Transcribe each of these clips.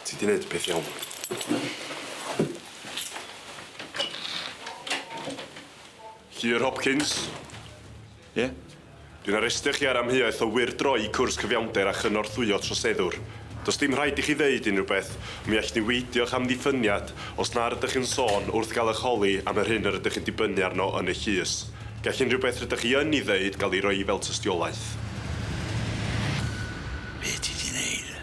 Ti di neud y peth iawn. Llyr Hopkins. Ie? Yeah? Dwi'n arestio chi ar amheuaeth o wirdroi cwrs cyfiawnder a chynorthwyo troseddwr. Does dim rhaid i chi ddeud unrhyw beth, mi all ni weidio'ch amddiffyniad os na rydych chi'n sôn wrth gael eich holi am yr hyn yr ydych chi'n dibynnu arno yn y llys. Gall unrhyw beth rydych chi yn ei ddeud gael ei roi fel tystiolaeth. Be' ti 'di neud?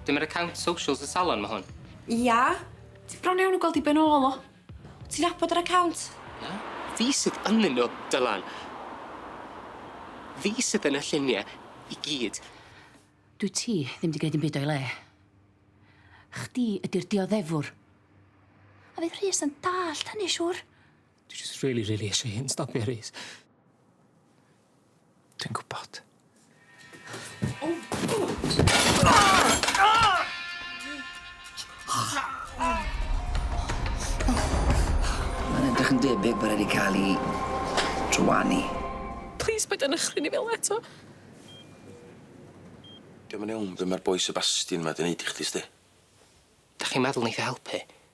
Dyma'r account socials y salon, ma' hwn. Ia. Ti bron iawn o gweld i ben ôl o. Wt ti'n nabod yr account? Na. Fi sydd ynnyn nw, Dylan. Fi sydd yn y llunie i gyd. Dwyt ti ddim 'di gneud dim byd o'i le. Chdi ydi'r dioddefwr. A fydd Rhys yn dallt hynny siŵr. Dwi jyst rili rili isie i hyn stopio Rhys. Dwi'n gwybod. Mae'n edrych yn debyg bod wedi cael ei drwani. Please, paid â nychryn i fel eto. Dio'm yn iawn be' ma'r boi Sebastian 'ma 'di neud i chdi sti. Dach chi'n meddwl neith e helpu?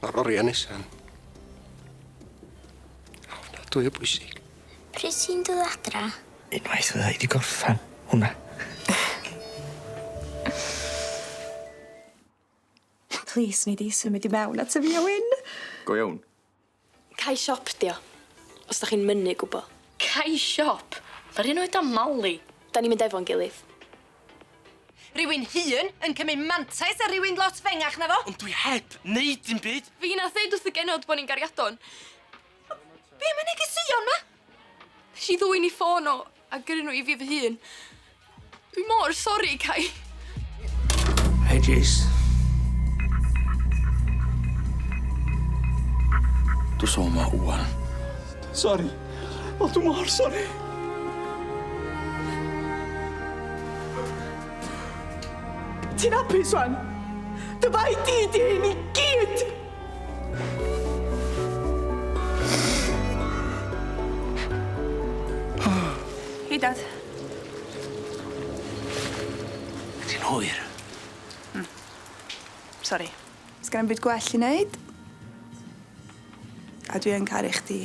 Mae'r oriau nesaf yn... Ofnadwy o bwysig. Pryd ti'n dod adra? Unwaith fydda i wedi gorffan hwnna. Plîs nei di symud i mewn ato fi a Wyn. Go iawn. Cau siop 'di o. Os 'dach chi'n mynnu gwbo. Cau siop? Ma'r un oed â Mali. 'Dan ni'n mynd efo'n gilydd. Rywun hŷn yn cymryd mantais ar rywun lot fengach na fo? Ond dwi heb neud dim byd! Fi nath ddeud wrth y genod bo ni'n gariadon. Be am y negeseuon 'ma? Nesh i ddwyn 'i ffôn o. A gyrru nhw i fi fy hun. Dwi mor sori, Cai. Hei, Jase. Dw so ma wan. Sori. O, dw mor sori. Ti'n apus wan? Dy bai di di hyn i gyd! Hei Dad. Ti'n hwyr. Hmm. Sori. Sgenna 'im byd gwell i neud. A dwi yn caru chdi.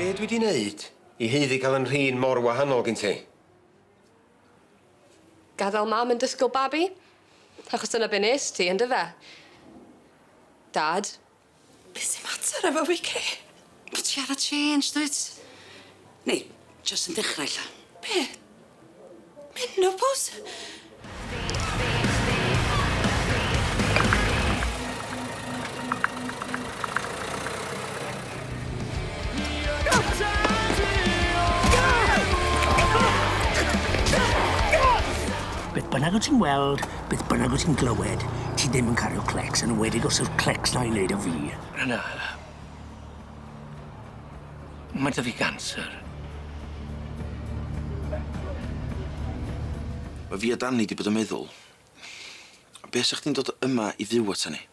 Be' dwi 'di neud i haeddu ca'l 'yn nhrin mor wahanol gin ti? Gadal mam yn disgwl babi? Achos dyna be' nest ti, yndyfe? Dad. Be' sy mater efo fi Kay? Bo' ti ar y change dwyt? Neu jyst yn dechrau ella? Be'? Menopos? Beth bynnag wt ti'n weld Beth bynnag wyt ti'n glywed, ti ddim yn cario clecs, yn enwedig os yw'r clecs 'na i wneud â fi. Rhana. Mae dy fi ganser. Mae fi a Danny 'di bod yn meddwl, be' sa chdi'n dod yma i fyw ata ni?